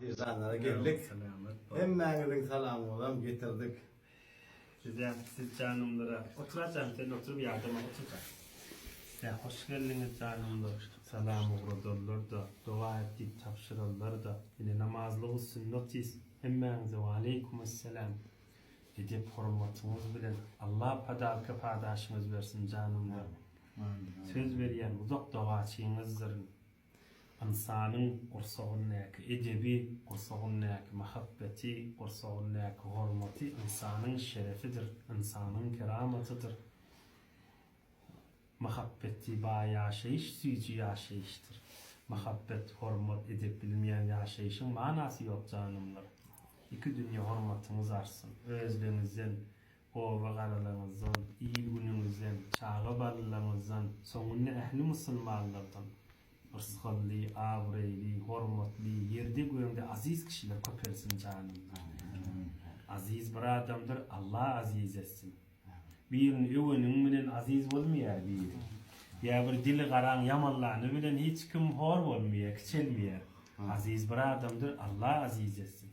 Eşanlara geldik. Hemmäňiziň salamyňyzam getirdik. Size siz janymlara otur ajan sen oturyp ýadama oturka. Size hoş geldiňiz janymlar. Salam ugradarlar da doga et diýip tabşyrarlar da ine namazlyk üstün notis hemmäňize waleýkum esselam edep hormatyňyz bilen Allah padalka padaşyňyz bersin janymlar söz berýän uzak dogaçyňyzdyryn. Ynsanyň gursagyndaky edebi, gursagyndaky mahabbeti, gursagyndaky hormaty ynsanyň şerefidir, ynsanyň keramatydyr. Mahabbeti baý ýaşaýyş süýji ýaşaýyşdyr. Mahabbet, hormat, edep bilmeýän ýaşaýyşyň manasy ýok janymlar. Iki dünýe hormatyňyz artsyn. Özleňizden, oba-garalaryňyzdan, il-günüňizden, çaga balalaryňyzdan, soňunda ähli musulmanlardan rysgally, abraýly, hormatly, ýerde-gögde aziz kişiler köpelsin janymda. Aziz bir adamdyr, Alla aziz etsin. Birini öweniň bilen aziz bolmaýar biri. Ýa bir dili garaň ýamanlany bilen hiç kim hor bolmaýar, kiçelmeýär. Aziz bir adamdyr, Alla aziz etsin.